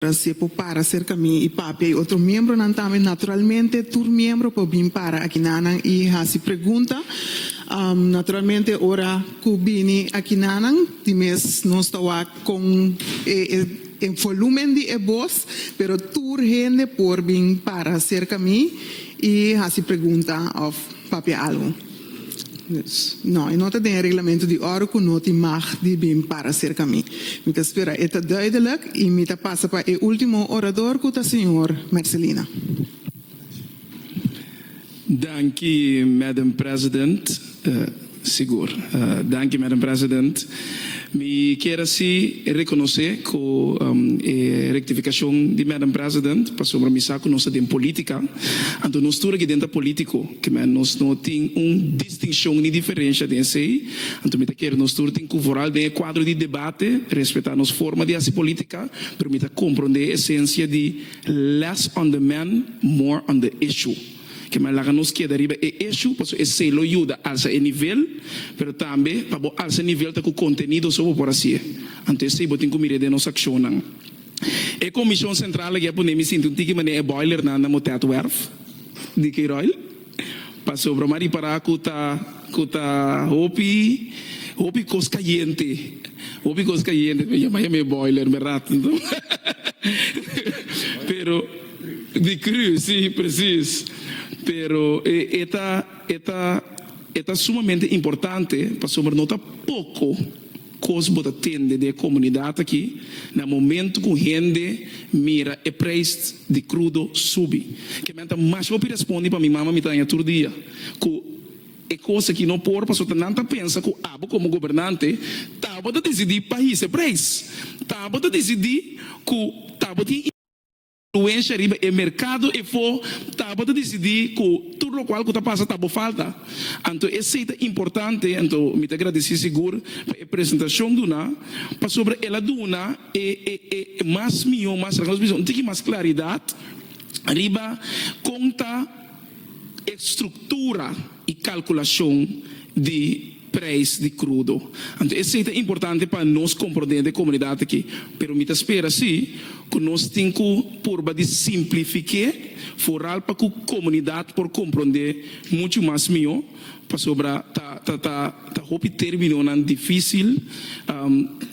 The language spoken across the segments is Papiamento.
Rasié por para serka mi i papia i otro miembronan tambe. Naturalmente tur miembro por bin para akinanan i hasi pregunta. Naturalmente ora ku bini akinanan di mes nos ta wak kon e e volumen di e bos, pero tur hende por bin para serka mi i hasi pregunta òf papia algu. No, e no ta den e reglamento di ora ku no tin mag di bin para serka mi. Mi ta spera e ta duidelek i mi ta pasa pa e ultimo orador ku ta señor Mercelina. Danki, Madam President. Sigur. Danki, Madam President. Mi kier a si rekonosé ku e rektifikashon di Madam President pasobra mi sa ku nos ta den polítika, anto nos tur aki den ta polítiko, kimen nos no tin un distinshon ni diferensha den esei, anto mi ta kier nos tur tin ku vooral den e kuadro di debate respetá nos forma di hasi polítika, pero mi ta komprondé e esensia di less on the man, more on the issue. Ke mai laga nos keda riba e eshu paso esei lo yuda alsa e nivel, pero tambe pa bo alsa nivel ta ku kontenido so bo por hasié. Anto esei bo tin ku mir'é den nos akshonnan. E komishon sentral aki a pone mi sinti un tiki manera e boilernan na Motetwerf di Keyroil paso broma a ripará ku ta ku ta hopi hopi kos kayente hopi kos kayente. Bo yama yama e boiler, berdad? Pero. Di cru, si, presis. Pero e e ta e ta e ta sumamente importante pasobra no ta poco cos bo ta tende den e comunidad aki na momento cu hende mira e prijs di crudo subi. Ke men ta mas hopi respondi pa mi mama mi ta haña tur dia cu e cos aki no por pasobra nan ta pensa cu abo como gobernante ta bo ta dicidi pa hisa e prijs, ta bo ta dicidi cu ta bo tin. Fluensha riba e merkado efo tabata disidí ku tur lokual ku ta pasa ta bo falta. Anto esei ta importante, anto mi ta gradisí sigur pa e presentashon duna, pasobra el a duna e e mas mihó, mas rèk nos bisa un tiki mas klaridat riba kon ta e struktura. y calculacion di prijs di crudo. Anto esey ta importante pa nos compro den de comunidad aki. Pero mi ta spera si cu nos tin cu purba di simplifique vooral pa cu comunidad por compronde mucho mas mijo pasobra ta ta ta ta hopi terminonan dificil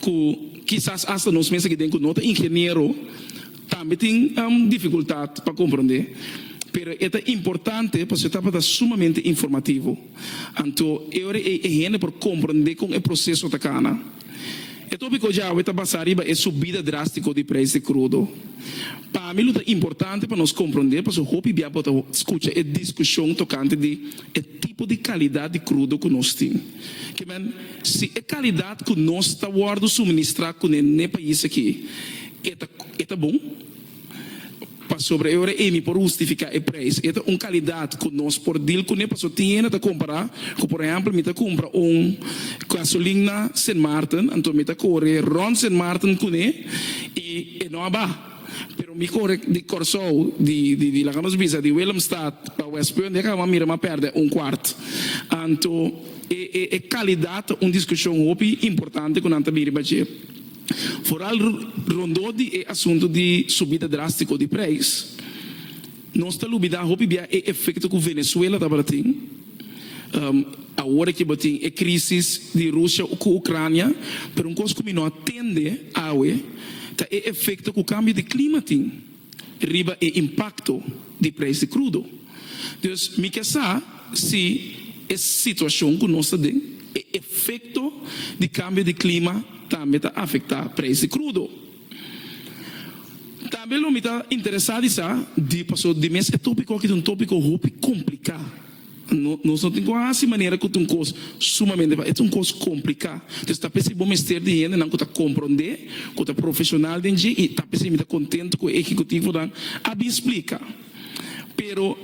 cu kisas hasta nos mes aki den cu no ta ingeniero Tambe tin dificultad pa comprende, pero e ta importante pasobra e tabata sumamente informativo. Anto e ora ei e hende por comprende con e proceso ta cana. E topico djawe ta basa riba e subida drastico di prijs di crudo. Pa mi lo ta importante pa nos comprende pasobra hopi bia bo ta scucha e discusion tocante di e tipo di calidad di crudo cu nos tin. Ke men, si e calidad cu nos ta wordo suministra cune n'e pais aki, E ta bon, pasobra e ora eni por hustifiká e preis. E ta un kalidat ku nos por dil kuné paso tiene ta kompará ku por ehèmpel mi ta kumpra un gasolin na Sint Maarten, anto mi ta kore rònt Sint Maarten kuné i e no a ba. Pero mi kore di Kòrsou, di laga nos bisa di Willemstad pa Westpunt, e kaba mira mi a pèrdè un kwart. Anto e kalidat ta un diskushon hopi importante ku nan ta bin riba dje. Foral rondó di e asuntu di subida drástiko di preis, nos ta lubidá hopi bia e efekto ku Venezuela tabata tin. Awor aki bo tin e krísis di Rusia ku Ucrania, pero un kos ku mi no a tende awe ta e efekto ku kambio di klima tin. riba e impakto di preis di krudo. Dus mi ke sa si e situashon ku nos ta den, e efekto di kambio di klima tambe ta afektá preis di krudo. Tambe lo mi ta interesá di sa di paso di mes e tópiko aki ta un tópiko hopi kompliká. Nos no tin ku hasi manera ku ta un kos sumamente fásil. E ta un kos kompliká. Entonces ta p'esei bo mester di hendenan ku ta komprondé, ku ta profeshonal den dje i ta p'esei mi ta kontentu ku e ehecutivnan a bin splika. Pero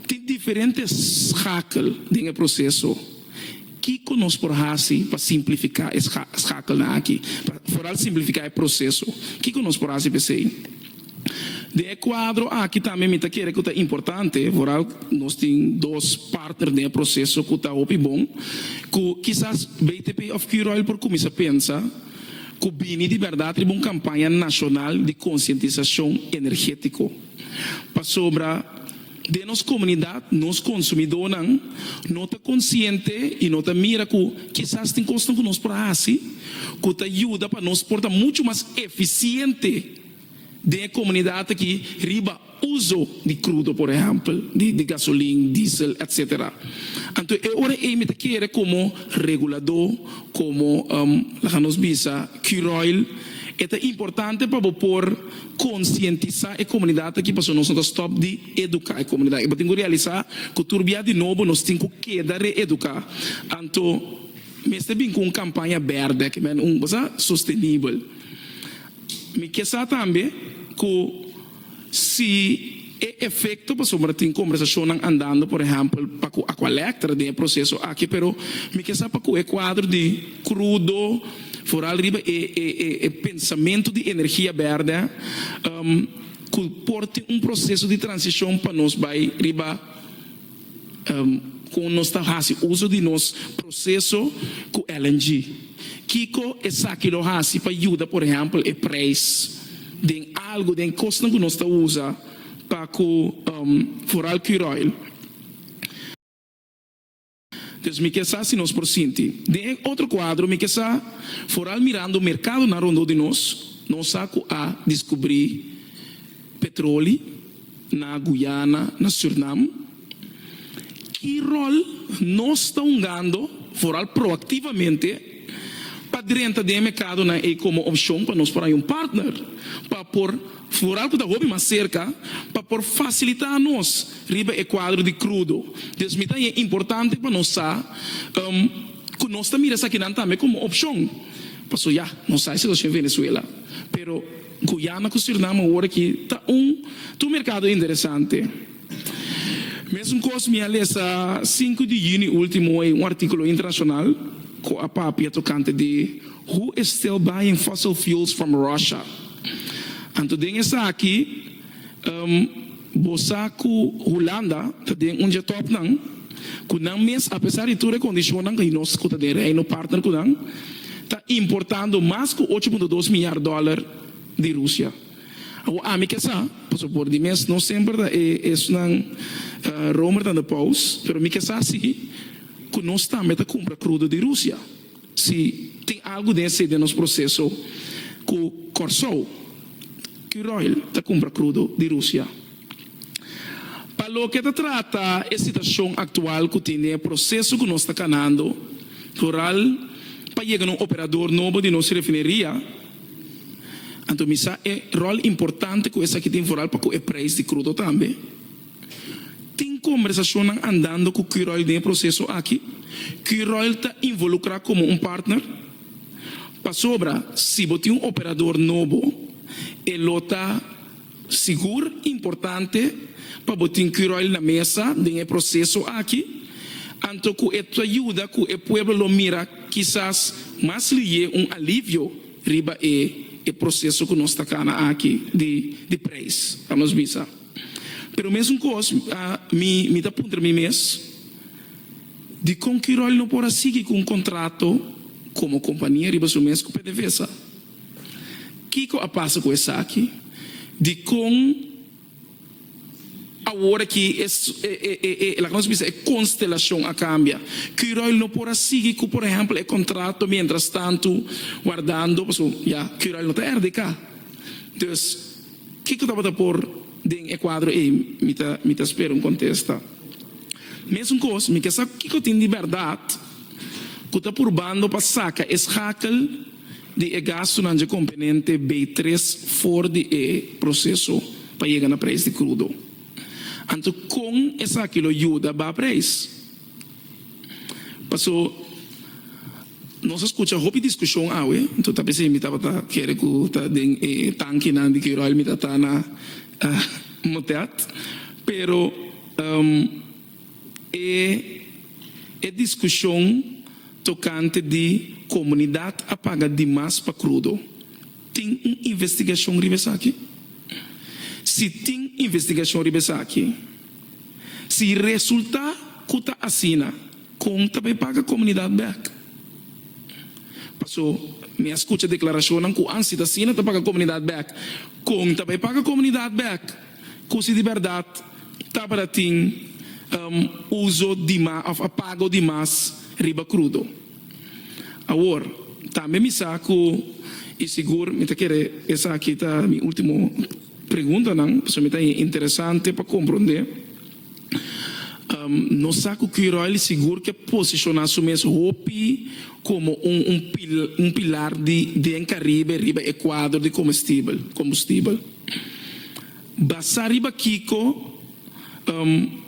tin diferente skakel den e proseso. Kiko nos por hasi pa simplifiká e skakelnan aki? Pa foral simplifiká e proseso. Kiko nos por hasi p'esei? Den e kuadro aki tambe mi ta kere ku ta importante, Vooral nos tin dos partner den e proseso ku ta hopi bon, ku kisas BTP òf Q-Royal por kuminsá pensa ku bini di bèrdat riba un kampaña nashonal di konsientisashon energétiko. Pasobra den nos komunidat nos konsumidónan no ta konsiente i no ta mira ku kisas tin kosnan ku nos por hasi ku ta yuda pa nos por ta muchu mas efisiente, den e komunidat aki riba uso di krudo por ehèmpel di gasolin, diesel etc. Anto e ora ei mi ta kere komo reguladó, komo laga nos bisa Curoil, e ta importante pa bo por konsientisá e komunidat aki pasobra nos no ta stòp di eduká e komunidat aki. Bo tin ku realisá ku tur bia di nobo nos tin ku keda reeduká. Anto mester bin ku un kampaña bèrdè aki, men un kos sostenibel. Mi ke sa tambe ku si e efekto pasobra tin kombersashonnan andando por ehèmpel pa ku Aqualectra den e proseso aki pero mi ke sa pa ku e kuadro di krudo foral riba e e pensamentu di energia bèrdè ku por tin un proseso di transishon pa nos bai riba Kon nos ta hasi uso di nos proseso ku LNG? Kiko esaki lo hasi pa yuda por ehèmpel e preis den algu den kosnan ku nos ta usa pa ku foral Curoil? Entonces mi ke sa si nos por sinti. Den e otro kuadro mi ke sa foral mirando un merkadonan rondó di nos, nos sa ku a diskubrí petroli. Na Guyana, na Surnam, ki ròl nos ta hungando, foral proaktivamente, pa drenta den e mèkadonan ei komo opshon pa nos por haña un partner pa por, foral ku ta hopi mas serka, pa por fasilitá nos riba e kuadro di krudo? Dus mi ta haña importante pa nos sa ku nos ta mira esakinan tambe komo opshon. Pasobra ya, nos sa e situashon Venezuela, pero. Guyana ku Surinam awor aki ta un tur merkado interesante. Mesumkos mi a lesa sinku di yüni último ei un artíkulo internashonal ku a papia tokante di Who is still buying fossil fuels from Russia? Anto den esaki, Bo sa ku Hulanda ta den un dje tòp nan ku nan mes apesar di tur e kondishonnan di nos ku ta den reino partner ku nan ta importando mas ku ocho punto dos milyar dòler di Rusia. Awor ami ke sa pasobra por di mes no semper ta e esnan Romer tanda paus pero mi ke sa si ku nos tambe ta kumpra krudo di Rusia. Si tin algu den esei den nos proseso ku Kòrsou, Curoil ta kumpra krudo di Rusia. Pa loke ta trata e situashon aktual ku tin den e proseso ku nos ta kanando rural pa yega na un operador nobo di nos refineria, anto mi sa e ròl importante ku esaki tin foral pa ku e preis di krudo tambe. Tin kombersacionnan andando cu Curoil den e proceso aki. Curoil ta involucra como un partner. Pasobra si bo tin un operador nobo e lo ta sigur importante pa bo tin Curoil na mesa den e proceso aki. Anto cu e ta yuda cu e pueblo lo mira kisas mas liye un alivio riba e proceso cu nos ta cana aki di prijs, ta nos bisa. Pero mesun kos mi mi ta puntra mi mes, dikon Kiròl no por a sigui ku un kontrato komo kompania riba su mes ku PDVSA? Kiko a pasa ku esaki? Dikon awor aki e e e laga nos bisa e konstelashon a kambia? Kiròl no por a sigui ku por ehèmpel e kontrato mientras tanto wardando pasobra ya Kiròl no ta rdk. Dus. Kiko tabata por den e kuadro ei? Mi ta spera un kontesta. Mesunkoos, mi ke sa kiko tin di bèrdat ku ta purbando pa saka e skakel di e gastunan dje komponente beitres for di e proseso pa yega na preis di krudo. Anto kon esaki lo yuda baha preis? Paso. Nos a scucha hopi discusion awe, enton ta bisa mi tabata kere cu ta den e tankinan di crude oil mi ta ta na moteat. Pero e e discusion tocante di comunidad a paga dimas pa crudo, tin un investigacion riba esaki? Si tin investigacion riba esaki, si resulta cu ta asina, Kon ta bay paga komunidat bek? Paso mi a skucha deklarashonnan ku ansi ta asina ta paga komunidat bek. Kon ta bay paga komunidat bek? Ku si di bèrdat tabata tin uso dima òf a pago di mas riba krudo. Awor tambe mi sa ku i sigur mi ta kere esaki ta mi último preguntanan paso mi ta interesante pa komprondé. Nos sa cu Kuyroil sigur ke posiciona su mes hopi como un pilar di den Caribe riba e cuadro di combustibel. Basa riba kico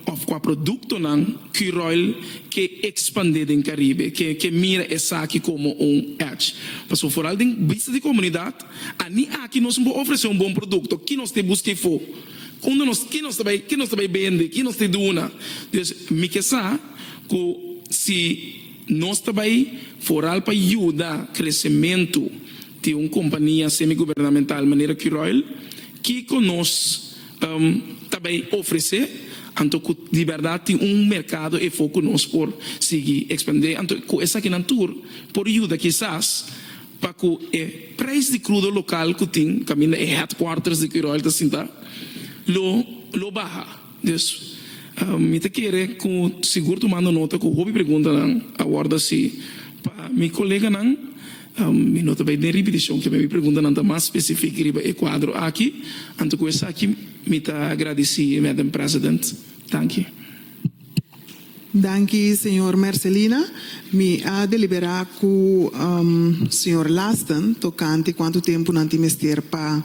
of cua productonan Kuyroil ke expande den Caribe? Ke mira esaki como un edge? Pasobra foral den bista di comunidad, a ni aki nos por ofrece un bon producto, ki nos te busca ifo? Unda nos, ki nos ta bai, ki nos ta bai bende, ki nos ta duna? Dios, mi ke sa ku si nos ta bai foral pa yuda kresementu di un kompania semigubernamental manera Curoil, kiko nos ta bai ofresé? Anto ku di bèrdat tin un merkado efo ku nos por sigui ekspandé? Anto ku esakinan tur por yuda kisas? pa ku e preis di krudo lokal ku tin kaminda e headquarters di Quirol ta sinta lo lo baha. Dus mi ta kere ku sigur tumando nota ku hopi preguntanan a wòrdu hasi pa mi koleganan. Mi no ta bai den ripitishon kiba mi preguntanan ta mas spesifik riba e kuadro aki. Anto ku esaki mi ta gradisí Madam President. Danki. Danki señor Mercelina. Mi a deliberá ku señor Lasten tokante kuantu tempu nan tin mester pa.